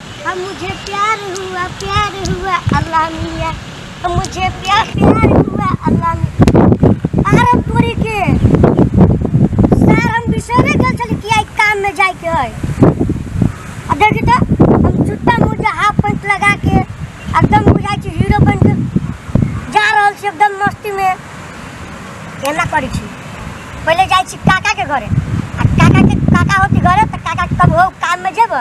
हम मुझे प्यार हुआ प्यार हुआ अल्लाह मिया हम मुझे प्यार प्यार हुआ अल्लाह मिया आरमपुरी के सर हम बिसरे गल छली कि आई काम में जाए के है आ देखी तो हम जूता मोजा हाफ पैंट लगा के एकदम बुझाई छी हीरो बन के जा रहल छी एकदम मस्ती में एना करी छी पहले जाए छी काका के घरे आ काका के काका होती घरे तो काका के कब हो काम में जेब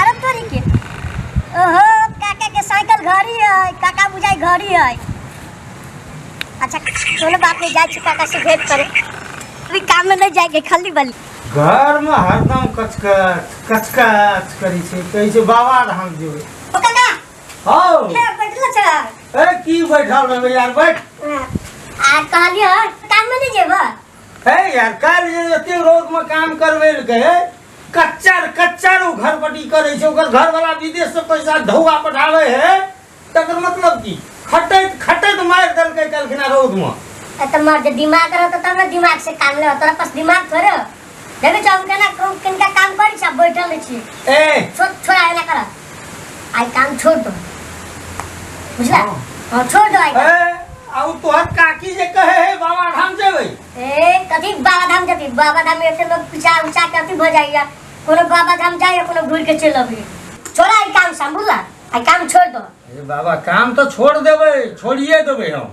अरे तोरी के ओहो काका के साइकिल घड़ी है काका बुझाई घड़ी है अच्छा कोनो बात नहीं जाए छी काका से भेंट करे अभी काम में नहीं जाएंगे खाली बली घर में हरदम कचकच कचकच करी छै कहै छै बाबा धाम जेबै ओ काका हौ हे बैठल छ ए की बैठल रहबै यार बैठ आ कहलिए काम में नहीं जेबा है यार काल जे एते रोज में काम करवे ले गए कच्चा कच्चा रो घर पटी करे छे ओकर घर वाला विदेश से पैसा धौआ पठावे है तकर मतलब की खटैत खटैत मार दल के कलखना रोज में ए त मर जे दिमाग रहत तब न दिमाग से काम ले तोरा पास दिमाग थोड़े हो। देखै छ हम केना कौन किनका काम करै छ बैठल रहै छी ए छोट छोरा एना कर आई काम छोड़ दो बुझला हाँ। हाँ छोड़ दो आई काम। ए, आ उ तोहर काकी जे कहे है बाबा धाम जेबै ए कथी बाबा धाम जती बाबा धाम में से लोग पिछा उछा के अथी भ जाइया कोनो बाबा धाम जाइया कोनो घूर के चल अबी छोड़ा आई काम सब बुझला आई काम छोड़ दो ए बाबा काम तो छोड़ देबै छोड़िए देबै हम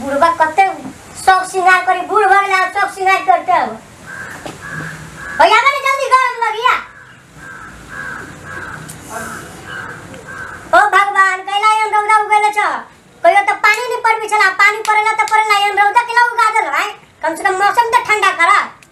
बुढ़वा कते शौक श्रृंगार करी बूढ़ भऽ गेला आब शौक श्रृंगार करते अब भैया बने जल्दी घर में भगिया ओ भगवान कैला यन रौदा उगेले छ कहियो त पानी नहीं पड़बी छला पानी पड़ेला त पड़ेला यन रौदा केला उगा देल है कम से कम मौसम त ठंडा करा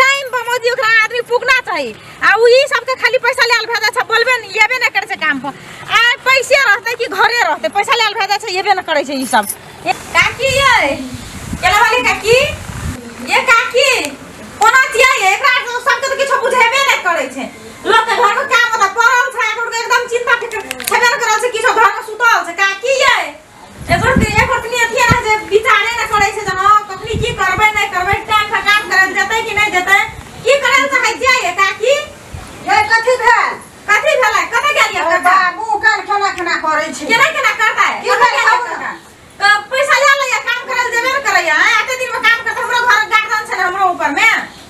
टाइम पर मोदी ओकरा आदमी पुगना चाही आ उ ई सबके खाली पैसा लेल भेजा छै बोलबे न येबे न करे छै काम पर आ पैसे रहते कि घरे रहते पैसा लेल भेजा छै येबे न करे छै ई सब ए, काकी ये केला वाली काकी ये काकी कोना छियै ये? एकरा तो सबके तो किछो बुझेबे न करे छै लोग के घर में काम होता पड़ल छै ओकरा एकदम चिंता फिक्र छबे न करल छै किछो घर में सुतल छै काकी ये एकर के एक ओतनी अथी है जे विचारे न करे छै जे हां कखनी की करबे नहीं करबे टाइम पर काम करल जते कि नहीं जते की करल से है जे ये काकी ये कथी भेल कथी भेलै कते गेलियै अरे काका बाबू काल खाना खाना करे छै केना केना करता है की कते भेल गेलियै खाना? काका? तो पैसा ले लैया काम करल जेबे न करैया हैं? एते दिन में काम करते हमरो घर गार्डन छै ने हमरो ऊपर में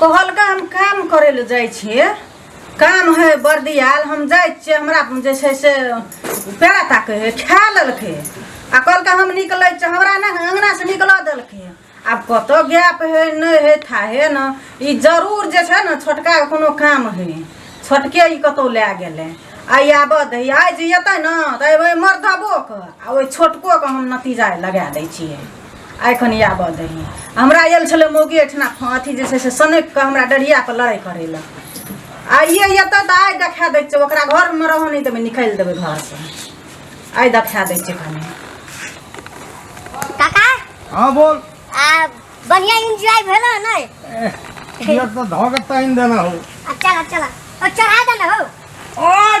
कहलका हम काम करे ले जाइ छिए काम है बर्दियाल हम जाइ छिए हमरा जे छै से पेड़ा ताके है खा लेलकै आ कहलका हम निकलै छी हमरा ने अंगना से निकलऽ देलकै आब कतऽ गैप है नहि है था है न ई जरूर जे छै ने छोटका के कोनो काम है छोटके ई कतौ लए गेलै आइ आबऽ दै आइ जे एतै ने तऽ एबै मर्दबोके आ ओहि छोटकोके हम नतीजा लगा दै छिए एखन आबऽ दही हमरा आयल छलै मौगी एहिठिना अथी जे छै से सनैक कऽ हमरा डरिया पर लड़ाइ करै लए आइए एतऽ तऽ आइ देखा दै छै ओकरा घरमे रहऽ नहि देबै निकालि देबै घरसँ आइ देखा दै छै कनि काका हाँ बोल आ बढ़िया एंजॉय भेल है नहीं एह, ये तो धोके ताइन देना हो अच्छा अच्छा और चढ़ा देना हो और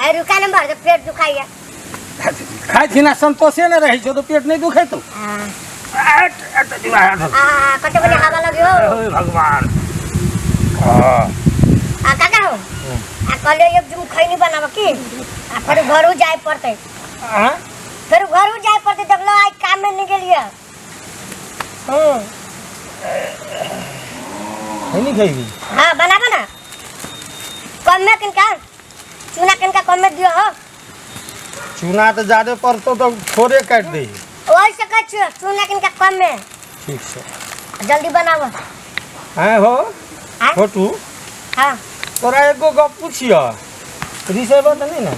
अरे रुका नंबर जब पेट दुखाइए खाइ छी ना संतोषे नहि रहै छौ तऽ पेट नहि दुखै तौ अट, अट, दिमाग हाथ धर। आ कते बजे हवा लगे हो ओए भगवान हाँ, आ काका हो आ कल एक जुम खैनी बनाब की आ फेर घरू जाए पड़ते हाँ? फेर घरू जाए पड़ते जब लो आज काम में नहीं गेलिए हम्म खैनी खैबी हाँ बनाबो ना कम में किनका चूना कनका कम में दियो हो चूना तो ज्यादा पड़तो तो थोड़े काट दे वही से कह छो चूना कनका कम में ठीक से जल्दी बनाओ हैं हो हाँ? छोटू हाँ तोरा एगो गप पूछियो रिसेब तो नहीं ना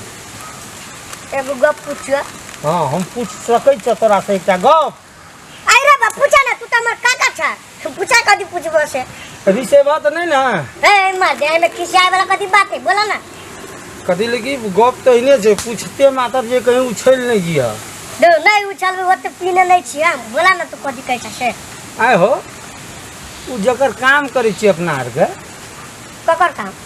एगो गप पूछियो हाँ हम पूछ सकै छ तोरा से एकटा गप आई रे बा पूछा ना तू त हमर काका छ तू पूछा कथी पूछबो से अभी से बात नहीं ना ए मार दे एमे खिसियाए वाला कथी बात है बोला ना कथी लगी गप तो इने से पूछते माता जे कहीं उछल नहीं गिया दो नहीं उछल वो तो पीने नहीं छी हम बोला ना तू कथी कहै छ से आए हो उ जकर काम करे छी अपना आर के ककर काम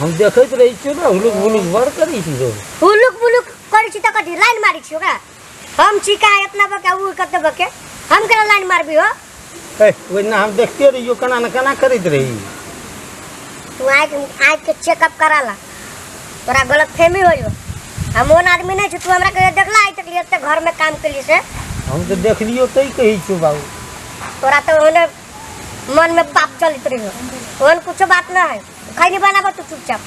हम देखैत रहै छियौ ने हुलुक हुलुक बड़ करै छी लोग हुलुक बुलुक करै छी तऽ कथी लाइन मारै छी ओकरा हम छी का इतना बके उ कते बके हम केना लाइन मारबी हो ए, ओहिना हम देखते रहियो केना ने केना करैत रही तू आँख आँख के चेकअप करा ला तोरा गलत फहमी हो जो हम ओन आदमी नहीं छी तू हमरा कहियो देखला आइ तक एते घर में काम करी से हम तऽ देखलियो तै कहै छियौ बाबू तोरा तो ओने मन में पाप चलित रही हो ओहन कुछ बात ना है खैनी बनाबो तू चुपचाप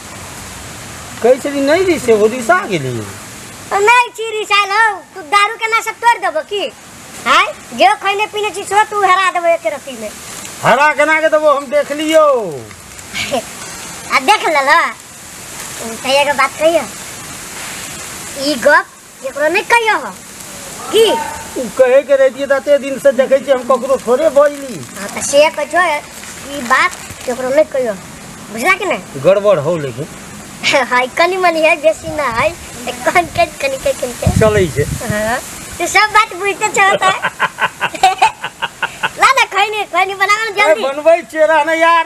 कैसे भी नहीं रिसे हो रिसा गेली और नहीं चीरी साल हो तू दारू के नशा तोड़ देबो की हाय जे खैने पीने चीज हो तू हरा देबो एक रती में हरा गना के देबो हम देख लियो आ देख लल तैया के बात कहियो ई गप एकरो नहीं कहियो हो की उ कहे के रहती तते दिन से देखे छी हम ककरो थोड़े बजली हाँ तो से कहियो ई बात एकरो नहीं कहियो बुझला कि नहीं गड़बड़ हो लेकिन हाय कनी मनी है बेसी ना है एक कन के कनी के कनी के चलै छै हाँ तू सब बात बुझते छो तो ला ना खैनी खैनी बनाओ ना अरे जल्दी बनबै छियै रहने यार